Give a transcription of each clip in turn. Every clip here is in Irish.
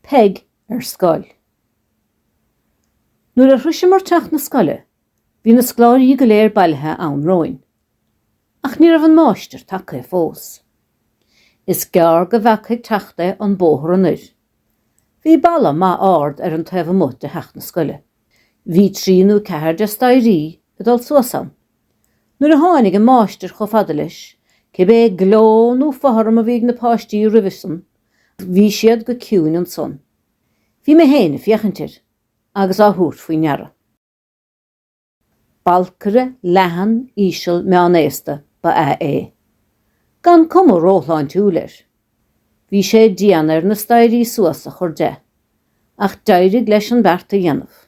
Peig ar scoil. Nuair a shroiseamar teach na scoile bhí na scoláirí go léir bailithe ann romhainn. Ach ní raibh an máistir tagtha fós. Is gearr go bhfeacthas ag teacht é an bóthar anoir. Bhí balla maith ard ar an taobh amuigh de theach na scoile. Bhí trí nó ceathair de staighrí ag dul suas ann. Nuair a tháinig an máistir chomh fada leis, cibé gleo nó fothram a bhí ag na páistí roimhe san, bhí siad go ciúin ansan. Bhí mé féin ag féachaint air agus á thabhairt faoi ndeara. Balcaire leathan íseal meán-aosta ba ea é, gan cuma róshláintiúil air. Bhí sé dian air na staighrí suas a chur de, ach d'éirigh leis an bheart a dhéanamh.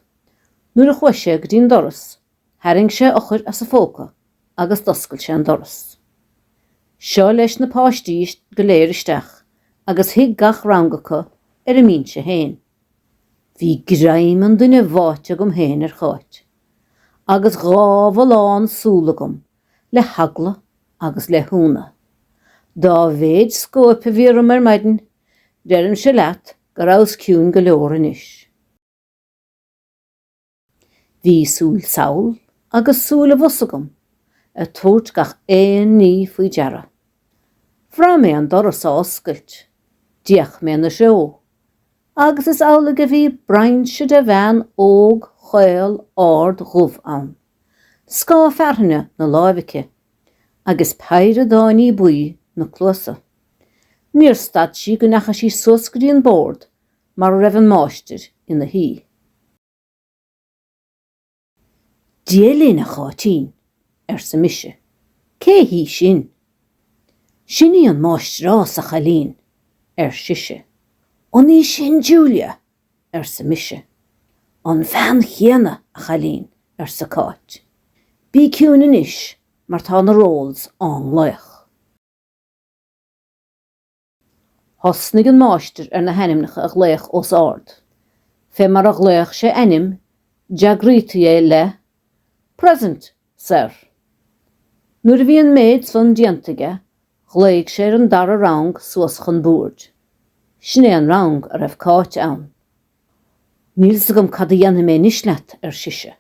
Nuair a chuaigh sé go dtí'n doras, Tharraing sé eochair as a phóca agus d'oscail sé an doras. Seo leis na páistí go léir isteach agus shuigh gach rang acu ar a mbinse féin. Bhí greim an duine bháite agam féin ar Cháit, agus dhá bholgshúil agam le heagla agus le hionadh. Dá mhéid scóip a bhí orm ar maidin, deirimse leat go rabhas ciúin go leor anois. Bhí súil sall agus súil abhus agam ag tabhairt gach aon ní faoi deara. Bhraith mé an doras á oscailt, d'fhéach mé ina threo, agus is amhlaidh a bhí broinnse de bhean óg chaol ard dhubh ann, scáth fearthainne 'na láimh aici, agus péire d'fháinní buí 'na cluasa. Níor stad sí go ndeachaigh sí suas go dtí an bord mar a raibh an máistir ina shuí. Dia linn, a Cháitín, arsa mise, cé hí sin? Sin í an máistreás, a chailín, ar sise. An í sin Julia? arsa mise. An bhean chéanna, a chailín, arsa Cáit. Bí ciúin anois, mar tá na rolls á nglaoch. Thosnaigh an máistir ar na hainmneacha a ghlaoch os ard. Fé mar a ghlaoch sé ainm, d'fhreagraítí é le Present, sir. Nuair a bhí an méid san déanta aige, ghlaoigh sé ar an dara rang suas chun boird. Sin é an rang a raibh Cáit ann. Níl fhios agam cad a dhéanfaidh mé anois leat, ar sise.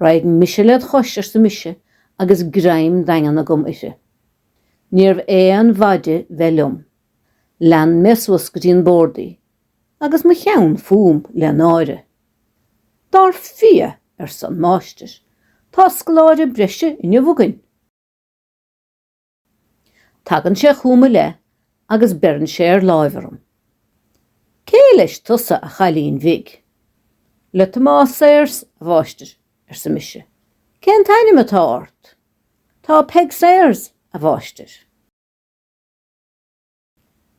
Raghaidh mise led chois, arsa mise, agus greim daingean agam uirthi. Níorbh aon mhaith bheith liom. Lean mé suas go dtí an bord í, agus mo cheann fúm le náire. Dar fia! arsa an máistir, tá scoláire breise inniu againn. Tagann sé chugam i leith agus beireann sé ar láimh orm. Cé leis tusa, a chailín bhig? Le Tomás Sayers, a mháistir, arsa mise. Cén t-ainm atá ort? Tá Peig Sayers, a mháistir.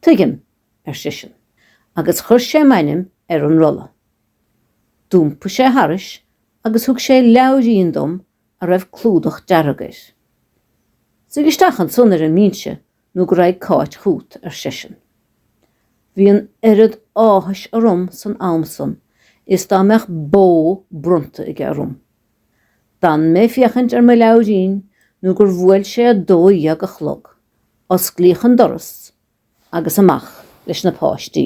Tuigim, ar seisean, agus chuir sé m'ainm ar an rolla. D'iompaigh sé thairis agus thug sé leabhairín dom a raibh clúdach dearg air. Suigh isteach ansan ar an mbinse nó go raghaidh Cáit chugat, ar seisean. Bhí an oiread áthais orm san am san is dá mbeadh bó bronnta aige orm. D'fhan mé ag féachaint ar mo leabhairín nó gur bhuail sé a dó dhéag a chlog, osclaíodh an doras agus amach leis na páistí.